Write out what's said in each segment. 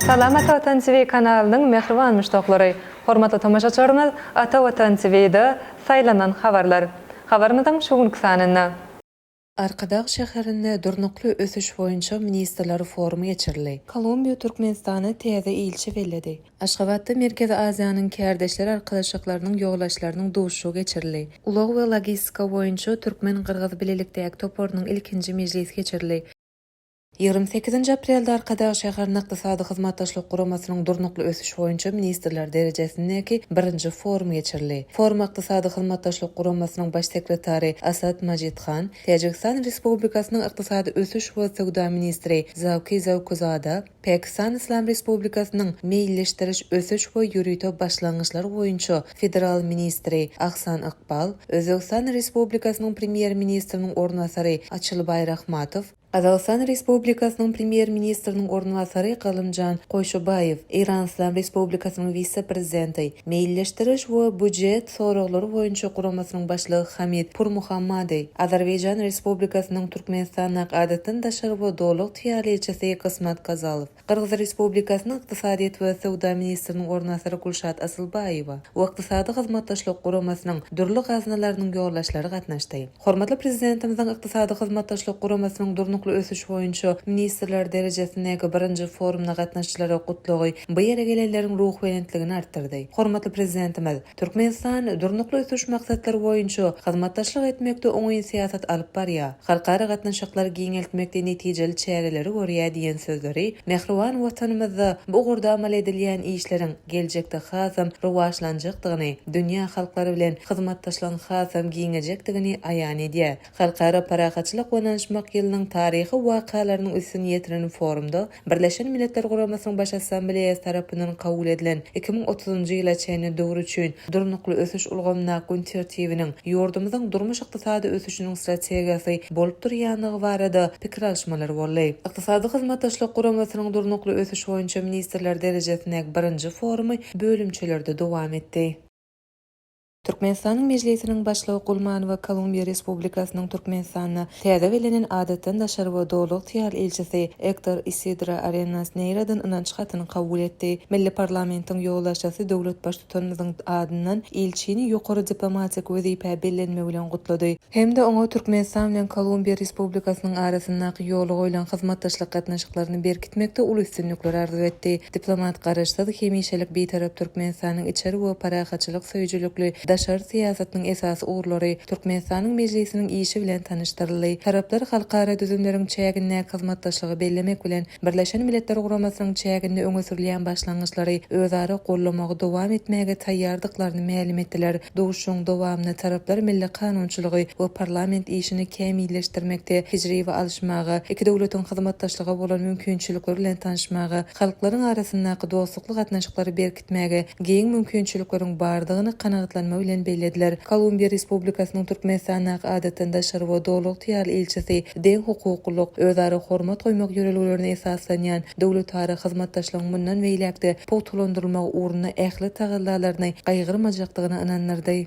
Salam Ata Watan TV kanalynyň mähriban muşdaklary! Hormatly tomaşaçylarymyz, Ata Watan TV-de Saýlanan habarlar habarymyzyň şu günki sanynda, Arkadag şäherinde Durnukly ösüş boýunça ministrler forumy geçirildi. Kolumbiýa Türkmenistana täze ilçi belledi. Aşgabatda Merkezi Aziýanyň Kärdeşler arkalaşyklarynyň ýolbaşçylarynyň duşuşygy geçirildi. Ulag we logistika boýunça türkmen-gyrgyz bilelikdäki toparynyň ilkinji mejlisi geçirildi. Ýigrimi sekizinji aprelde Arkadag şäherinde Ykdysady Hyzmatdaşlyk Guramasynyň Durnukly ösüş boýunça ministrler derejesindäki birinji forum geçirildi. Foruma Ykdysady Hyzmatdaşlyk Guramasynyň Baş sekretary Asad Majidhan, Täjigistan Respublikasynyň Ykdysady ösüş we söwda ministri Zawki Zawkuzada, Pakistan Yslam Respublikasynyň Meýilleşdiriş, ösüş we ýörite başlangyçlar boýunça federal ministri Ahsan Ykbal, Özbegistan Respublikasynyň Premýer-ministriniň orunbasary Açylbaý Rahmatow, Gazagystan Respublikasynyň Premýer-ministriniň orunbasary Galymjan Goýşubaýew, Eýranyslam Respublikasynyň wise-prezidenti, Meýilleşdiriş we býujet soraglary boýunça guramasynyň başlygy Hamid Purmuhammadi, Azerbaýjan Respublikasynyň Türkmenistandaky Adatdan daşary we Doly ygtyýarly ilçisi Gysmat Gazalow, Gyrgyz Respublikasynyň ykdysadyýet we söwda ministriniň orunbasary Gulşat Asylbaýewa we Ykdysady Hyzmatdaşlyk Guramasynyň dürli gaznalarynyň ýolbaşçylary gatnaşdy. Hormatly Prezidentimiziň Ykdysady Hyzmatdaşlyk Guramasynyň Durnukly ösüş boýunça ministrler derejesindäki birinji forumyna gatnaşyjylara gutlagy bu ýere gelenleriň ruhubelentligini artdyrdy. Hormatly Prezidentimiz. Türkmenistan Durnukly ösüş maksatlary boýunça hyzmatdaşlyk etmekde oňyn syýasat alyp barýar, halkara gatnaşyklary giňeltmekde netijeli çäreleri görýär diýen sözleri mähriban Watanymyzda bu ugurda amal edilýän işleriň geljekde hasam rowaçlanjakdygyny, dünýä halklary bilen hyzmatdaşlygyň hasam giňejekdigini aýan edýär. Halkara parahatçylyk we ynyşmak ýylynyň taryhy wakalarynyň üstüni ýetiren forumda Birleşen Milletler Guramasynyň Baş Assambleýasy tarapyndan kabul edilen iki müň otuzynjy ýyla çenli döwür üçin Durnukly ösüş ulgamyndaky gün tertibiniň ýurdumyzyň durmuş-ykdysady ösüşiniň strategiýasy bolup durýandygy barada pikir alyşmalar boldy. Ykdysady Hyzmatdaşlyk Guramasynyň Durnukly ösüş boýunça ministrler derejesindäki birinji forumy bölümçelerde dowam etdi. Türkmenistanyň Mejlisiniň Başlygy Gulmanowa Kolumbiýa Respublikasynyň Türkmenistanda täze bellenen Adatdan daşary we Doly ygtyýarly ilçisi Ektor Isidro Arenas Neýradan ynanç hatyny kabul etdi. Milli parlamentiň ýolbaşçysy döwlet Baştutanymyzyň adyndan ilçini ýokary diplomatik wezipä bellenmegi bilen gutlady. hem-de oňa Türkmenistan bilen Kolumbiýa Respublikasynyň arasyndaky ýola goýlan hyzmatdaşlyk gatnaşyklaryny berkitmekde uly üstünlikler arzuw etdi. Diplomat Garaşsyz, hemişelik Bitarap Türkmenistanyň içeri we parahatçylyk söýüjilikli daşary syýasatynyň esasy ugurlary Türkmenistanyň Mejlisiniň işi bilen tanyşdyryldy. Taraplar halkara düzümleriň çägindäki hyzmatdaşlygy bellemek bilen, Birleşen Milletler Guramasynyň çäginde öňe sürülýän başlangyçlary özara gollamagy dowam etmäge taýýardyklaryny mälim etdiler. Duşuşygyň dowamynda taraplar milli kanunçylygy we parlament işini kämilleşdirmekde tejribe alyşmaga, iki döwletiň hyzmatdaşlyga bolan mümkinçilikleri bilen tanyşmaga, halklaryň arasyndaky dostlukly gatnaşyklary berkitmäge giň mümkinçilikleriň bardygyny kanagatlanma bilen bellediler. Kolumbiýa Respublikasynyň Türkmenistandaky Adatdan daşary we Doly ygtyýarly ilçisi deň hukuklylyk, özara hormat goýmak ýörelgelerine esaslanýan Döwletara hyzmatdaşlygyň mundan beýläk-de pugtalandyrylmagy ugrunda ähli tagallalaryny gaýgyrmajakdygyna ynandyrdy.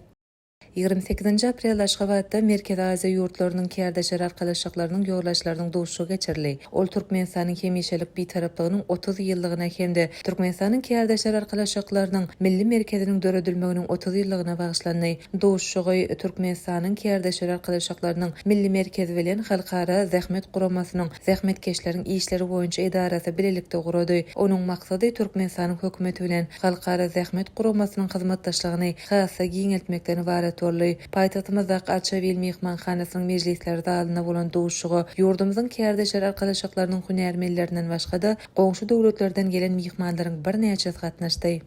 Ýigrimi sekizinji aprelde Aşgabatda Merkezi Aziýa ýurtlarynyň Kärdeşler arkalaşyklarynyň ýolbaşçylarynyň duşuşygy geçirildi. Ol Türkmenistanyň hemişelik Bitaraplygynyň otuz ýyllygyna hem-de Türkmenistanyň Kärdeşler arkalaşyklarynyň Milli merkeziniň döredilmeginiň otuz ýyllygyna bagyşlandy. Duşuşygy Türkmenistanyň Kärdeşler arkalaşyklarynyň Milli merkezi bilen Halkara zähmet guramasynyň zähmetkeşleriň işleri boýunça edarasy bilelikde gurady. Onuň maksady Türkmenistanyň hökümeti bilen Halkara zähmet guramasynyň hyzmatdaşlygyny has-da giňeltmekden ybarat boldy. Paýtagtymyzdaky Arçabil myhmanhanasynyň mejlisler zalynda bolan duşuşyga ýurdumyzyň Kärdeşler arkalaşyklarynyň hünärmenlerinden başga-da, goňşy döwletlerden gelen myhmanlaryň birnäçesi gatnaşdy.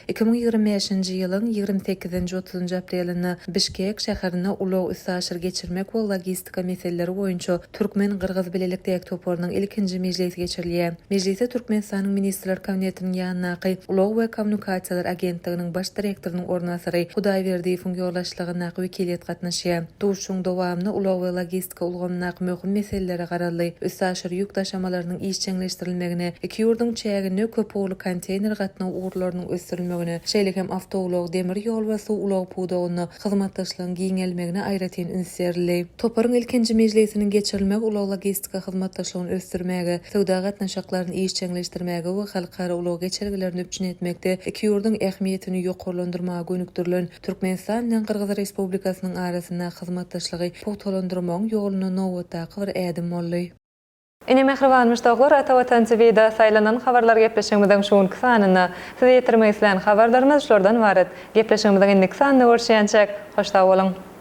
Iki müň ýigrimi bäşinji ýylyň ýigrimi sekizinji, otuzynjy aprelinde Bişkek şäherinde Ulag-üstaşyr geçirmek we logistika meseleleri boýunça türkmen-gyrgyz bilelikdäki toparynyň ilkinji mejlisi geçirilýär. Mejlise Türkmenistanyň Ministrler Kabinetiniň ýanyndaky Ulag we kommunikasiýalar agentliginiň baş direktorynyň orunbasary Hudaýberdiýewiň ýolbaşçylygyndaky wekiliýet gatnaşýar. Duşuşygyň dowamynda ulag we logistika energetika ulgamyndaky möhüm meselelere garaldy, üstaşyr ýük daşamalarynyň işjeňleşdirilmegine, iki ýurduň çäginde köp ugurly konteýner gatnaw ugurlarynyň ösdürilmegine, şeýle hem awtoulag, demir ýol we suw ulagy pudagynda hyzmatdaşlygyň giňelmegine aýratyn üns berildi. Toparyň ilkinji mejlisiniň geçirilmegi ulag-logistika hyzmatdaşlygyny ösdürmäge, söwda gatnaşyklaryny işjeňleşdirmäge we halkara ulag geçelgelerini üpjün etmekde iki ýurduň ähmiýetini ýokarlandyrmaga gönükdirilen Türkmenistan bilen Gyrgyz Respublikasynyň arasyndaky hyzmatdaşlygy pugtalandyrmagyň ýolunda nobatdaky bir ädim boldy. Ine mähribanmyş doglar Ata Watançy Vida saýlanan habarlar gepleşigimiziň şu günki sanynda size ýetirmek islän habarlarymyz şulardan ybarat. Gepleşigimiziň indiki sanynda görüşýänçäk hoş sag boluň.